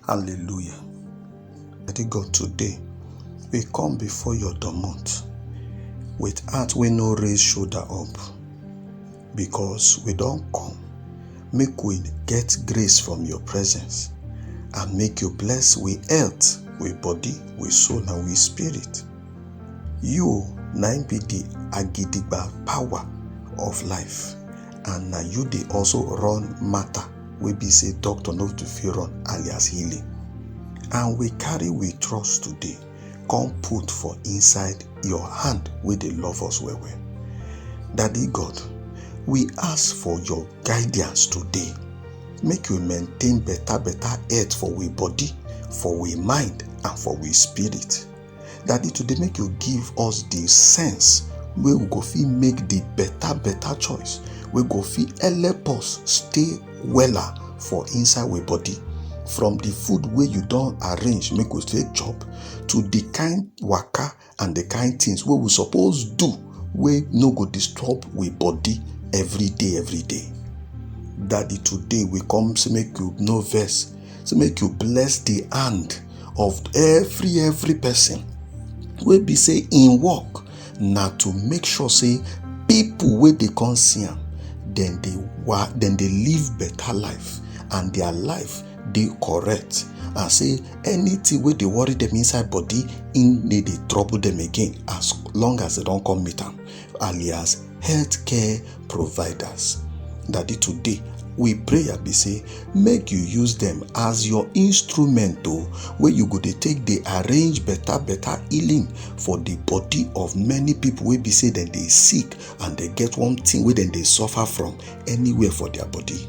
Hallelujah. Daddy God, today we come before your domot with heart wey no raise shoulder up because we don come make we get grace from your presence and make you bless we health, we body, we soul and we spirit. You na im be the agidigba power of life. and na you dey also run matter wey be say doctor no to fit run alias healing and we carry we trust today come put for inside your hand wey dey love us well well daddy god we ask for your guidance today make we maintain better better health for we body for we mind and for we spirit Daddy, today make you give us the sense wey we go fit make the better better choice wey go fit help us stay wella for inside we body from the food wey you don arrange make we take chop to the kind waka and the kind things wey we suppose do wey no go disturb we body every day every day daddy today we come say make you no vex So make you bless the hand of every every person wey be say in work na to make sure say people wey dey come see am dem dey wa dem dey live better life and their life dey correct and say anything wey dey worry them inside body im dey dey trouble them again as long as they don come meet am alias healthcare providers daddy today we pray and be say make you use them as your instrument o where you go dey take dey arrange better better healing for the body of many people wey be say dem dey sick and dey get one thing wey dem dey suffer from anywhere for their body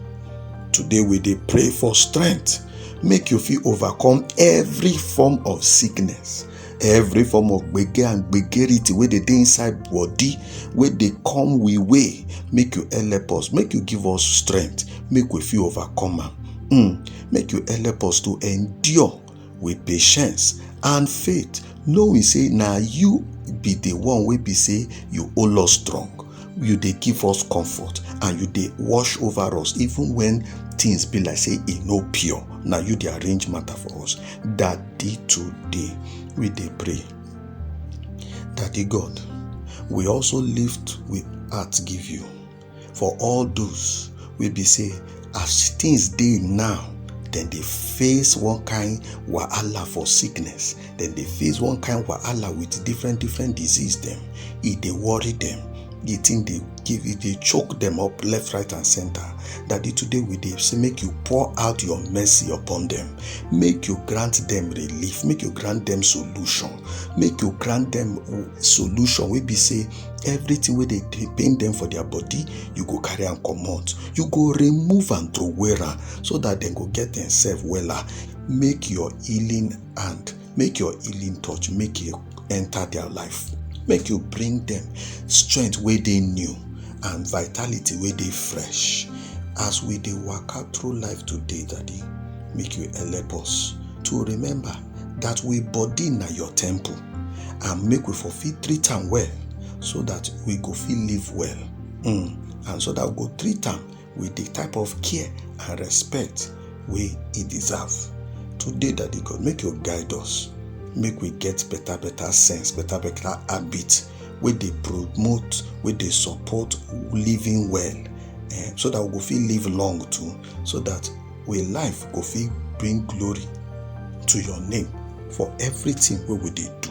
today we dey pray for strength make you fit overcome every form of sickness every form of gbege and gbegerity wey dey dey inside body wey dey come we way make you help us make you give us strength make we fit overcome am mm. make you help us to endure with patience and faith knowing say na you be the one wey be say you hold us strong you dey give us comfort and you dey wash over us even when things be like say e no pure na you dey arrange matter for us daddy today we dey pray daddy god we also lift we heart give you for all those wey be say as things dey now dem dey face one kind wahala for sickness dem dey face one kind wahala with different different disease dem e dey worry dem the thing dey give e dey choke dem up left right and center daddy today we dey say make you pour out your mercy upon dem make you grant dem relief make you grant dem solution make you grant dem solution wey be say everything wey dey dey pain dem for their body you go carry am comot you go remove am throway am so that dem go get themselves wella make your healing and make your healing touch make e enter their life make you bring them strength wey dey new and vitality wey dey fresh as we dey waka through life today daddy make you help us to remember that we body na your temple and make we for fit treat am well so that we go fit live well mm. and so that we go treat am with the type of care and respect wey e deserve. Today, Daddy God, make you guide us. Make we get better, better sense, better, better habit wey dey promote, wey dey support living well. Eh, so that we go fit live long too, so that we life go fit bring glory to your name for everything wey we dey do.